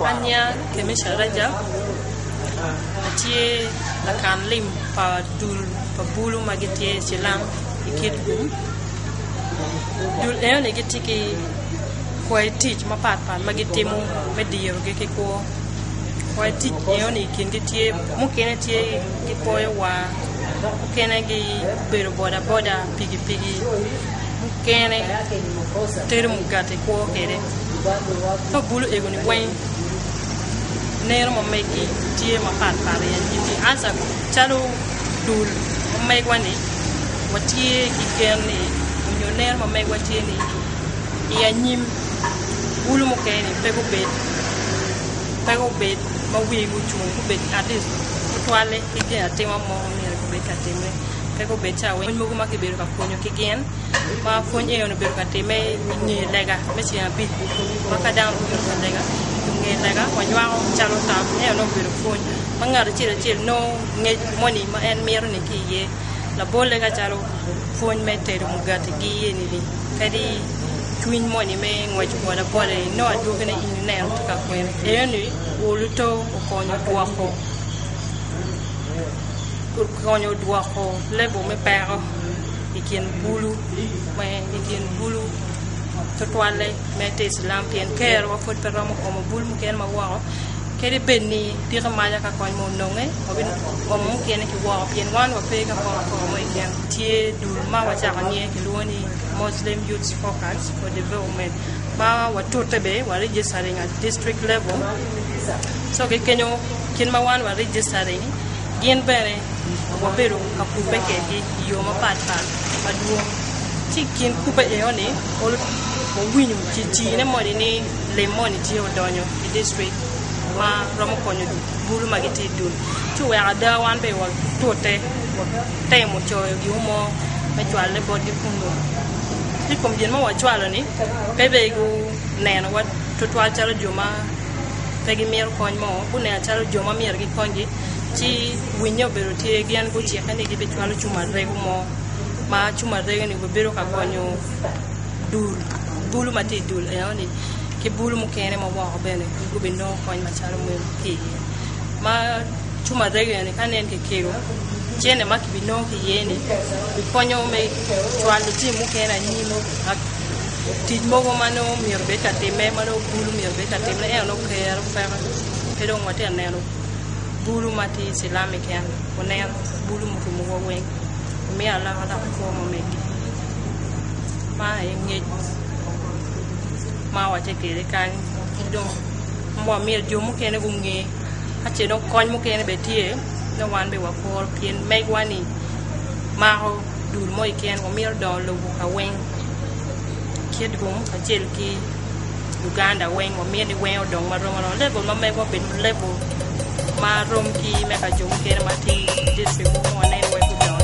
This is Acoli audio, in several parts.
Anya Kemisha Rajab atye lakan lim pa dul pa bulu ma gitye cilam i Kitgum. Dul enoni gitye ki kwai tic mapat pat ma gitimo me dirogi ki kwo. Kwai tic enoni i kingi tye mukene tye gikwoyo war, mukene gibedo bodaboda, pikipiki, mukene tero mugati kwo kwede. Ka bulu egoni weng neno ma megi tye mapat pat iye gin ni anca calo dul ma megwa ni watye ki gen ni nyo neno ma megwa tye ni i anyim bulu mukene ni pe gubed pe gubed ma wigi gucung gubed at least tutwalle ki gin atima mo ma myero gubed ka timme pe gubed ca wai mogo ma kibedo ka pwonyo ki gin ma pwony eno obedo ka timme i nge lega me ceng abic ma ka dano obino ka lega i nge lega wanywako calo tam eno nongo obedo pwony ma ngat acel acel nongo ngec moni ma en mito-ni ki iye labolle ka calo pwony me tedo mugati-gi eni-ni kadi cwiny moni me ngwec boda boda ni nongo adwogine in ineno tye ka kwene eno ni oluto okonyo dwoko okonyo dwoko level me peko i kin bulu me i kin bulu tutwalle me te icilam pien kerowa pud pe romo omo bulu mukene ma woko kadi bed ni piki maca ka kony ma ononge wabino omo mukene ki woko pien wan wape ka kong kong mo keken tye dul ma wacako niye kilwongo ni Muslim Youths Focus for Development ma watute bene wa registering at district level so ki kenyo kit ma wan wa registering gin bene wabedo ka kubbe kwedgi i yo mapat pat madwong ci i kin kubbe enoni wawinyo cicine moni ni lim moni tye odonyo i district ma romo konyo bulu ma gitye i dul ci oweko ada wan bene watute temo coyo giwu mo me cwale botgi kun dong ki i kom gin ma wacwalo-ni pe dong gunenowa tutwal calo jo ma pe gimito kony mo, gunenowa calo jo ma myero gikonygi. Ci winye obedo tye gin gucikke ni gibicwalo cumarego mo ma cumarego-ni bene bedo ka gonyo dul bulu ma tye i dul enoni ki bulu mukene ma woko bene gubinongo kony macalo meno ki iye. cuma arega ni ka nen kekelo cene ma kibinongo ki iye ni bikonyo me cwalo lutino mukene anyim tic mogo ma nongo myero bed ka time ma nongo bulu myero bed ka time ento nongo kero peke pe dong watye ka neno bulu ma tye i cilam keken onen bulu murumo wa weng omiyo alaka lok ikwo ma omege ma aye ngec ma watye kwede kany ki dong ma myero jo mukene gunge ka ce dong kony mukene bene tye dong wan bene wakuru pien megwa ni mako dul mo keken wamito dongo lobo ka weng kit rum kacel ki Uganda weng wamyero ni weng odong ma rom aroma level ma megwa obed level ma rom ki me ka jo mukene ma tye district mogo ma waneno wai gudongo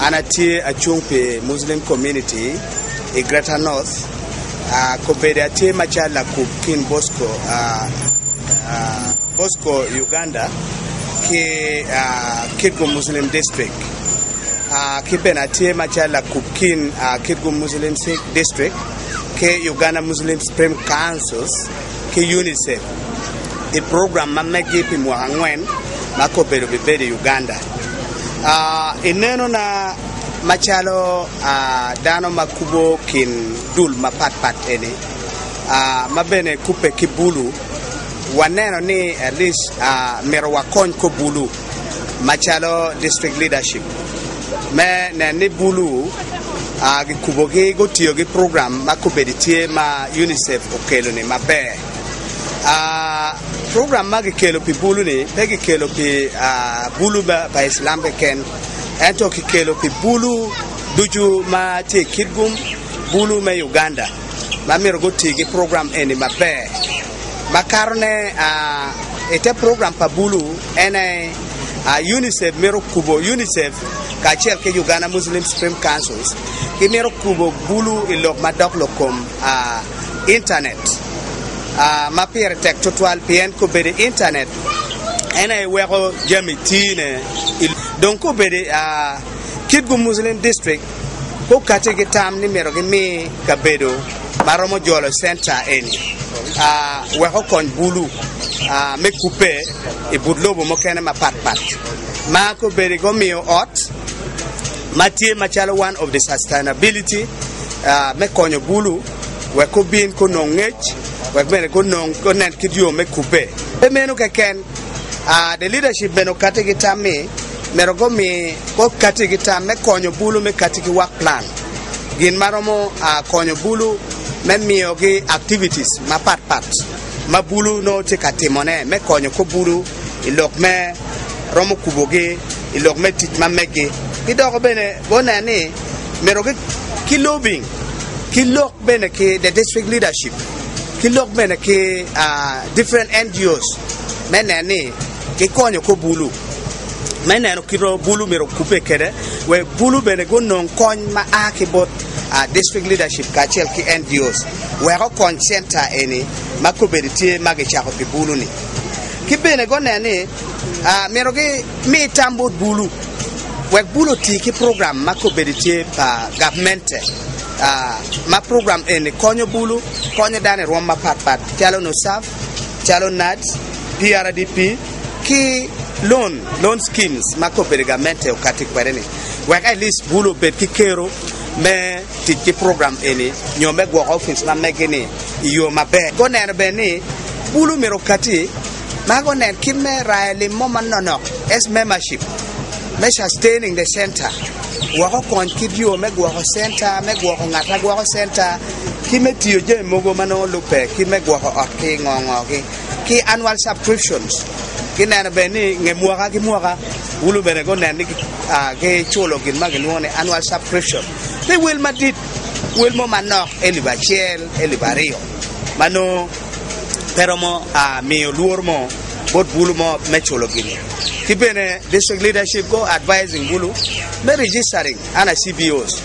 An atye acung pi Muslim Community i Greater North. Kobedi atye macalo lakub kin Bosco, Bosco Uganda, ki Kitgum Muslim District. Ki bene atye macalo lakub kin Kitgum Muslim District ki Uganda Muslim Supreme Councils. ki UNICEF i program ma meggi pi mwaka angwen ma kobedo bibedo i Uganda. I nenona macalo dano ma kubo kin dul mapat pat eni ma bene kubbe ki bulu, waneno ni at least myero wakony kor bulu. macalo district leadership me nen ni bulu gikubogi gutiyo ki program ma kobedi tye ma UNICEF okelo ni maber. Program ma gikelo pi bulu ni pe gikelo pi bulu pa Islam keken ento kikelo pi bulu ducu ma tye i Kitgum, bulu me Uganda ma myero guti ki program eni maber. makato ne i te program pa bulu en aye UNICEF mito kubo UNICEF kacel ki Uganda Muslim Supreme Council gimito kubo bulu i lok madok lok kom intanet ma pire tek tutwal pien kobedo i intanet en aye weko jami tine dong kobedo kit gu Muslim district okati ki tam ni myero gimi kabedo ma romo jolo centa eni wek okony bulu me kubbe i but lobo mukene mapat pat ma kobedi gumiyo ot ma tye macalo one of the sustainability me konyo bulu wek gubin gunong ngec wek bene gunen kit yo me kubbe pe meno keken the leadership bene okati ki tam ni myero gumi kor katigi tam me konyo bulu me katigi wak plan gin ma romo konyo bulu me miyogi activities mapat pat ma bulu nongo tye ka timone me konyo kor bulu i lok me romo kubogi i lok me tic ma megi ki dok bene guneno ni myero ki lobbying ki lok bene ki the district leadership ki lok bene ki different NGOs me neno ni gikonyo kor bulu. me neno kit ma bulu myero okubbe kwede wek bulu bene gunong kony ma a ki bot district leadership kacel ki NGOs wek okony center eni ma kobedi tye ma kicako pi bulu ni ki bene guneno ni myero gimi tam bot bulu wek bulu oti ki program ma kobedi tye pa gavmente ma program eni konyo bulu konyo dano i rwom mapat pat calo NUSAF calo NAAD, PRDP. ki loan, loan schemes, ma kobedi gamente okatti kwede-ni wek at least bulu obed ki kero me tic ki program eni nyo me gwoko opic ma mege-ni i yo maber. Guneno bene ni bulu myero okatti ma gunen kit me rayo lim mo manonok, S-membership, me sustaining the center wek okony kit yo me gwoko center, me gwoko ngat ma gwoko center, ki me tiyo jami mogo ma nongo lubbe ki me gwoko ot ki ngo-ngogi. ki annual subscriptions ki neno bene ni nge mwaka ki mwaka wulu bene gunen ni ki culo gin ma gilwongo ni annual subscription pe wel madit wel mo manok elip acel elip aryo ma nongo pe romo miyo lworo mo bot bulu mo me culo gini ki bene district leadership go advising bulu me registering ana CBOs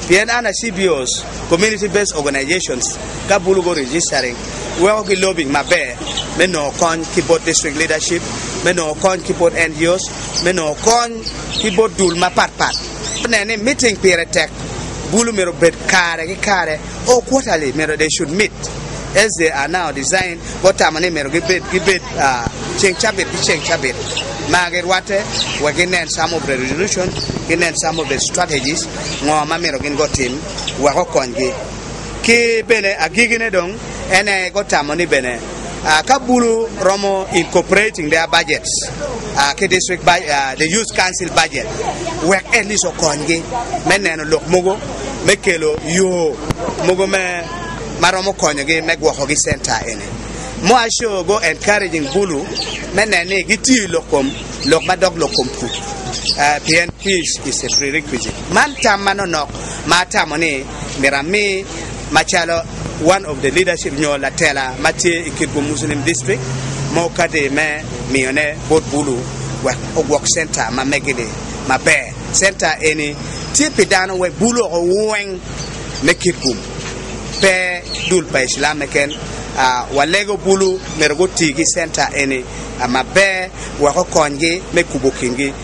pien ana CBOs community based organizations ka bulu go registering weko ki lobbying maber me nongo kony ki bot district leadership, me nongo kony ki bot NGOs, me nongo kony ki bot dul mapat pat. Neno ni meeting pire tek bulu myero obed kare ki kare or quarterly myero they should meet as they are now designed gutamo ni myero gibed gibed ceng cabit ki ceng cabit ma girwatte wek ginen some of the resolution ginen some of the strategies ngo ma myero gin gutim wek okonygi. Ki bene agikine dong en aye gutamo ni bene ka bulu romo incorporating their budgets ki district budget, the youth council budget wek at least okonygi me neno lok mogo me kelo yo mogo me ma romo konyogi me gwokogi center eni. Moa Show go encouraging bulu me nen ni gitiyo i lok kom lok ma dog lok kom pur pien peace is a prerequisite. Man tam ma nonok ma atamo ni myero ami macalo one of the leadership nyo latela ma tye i Kitgum Muslim District me okati me miyone bot Bulu wek ogwok center ma megi-ni maber. Center eni tye pi dano wek Bulu woko weng me Kitgum, pe dul pa Icilam keken. Walego Bulu myero guti ki center eni maber wek okonygi me kubo kingi.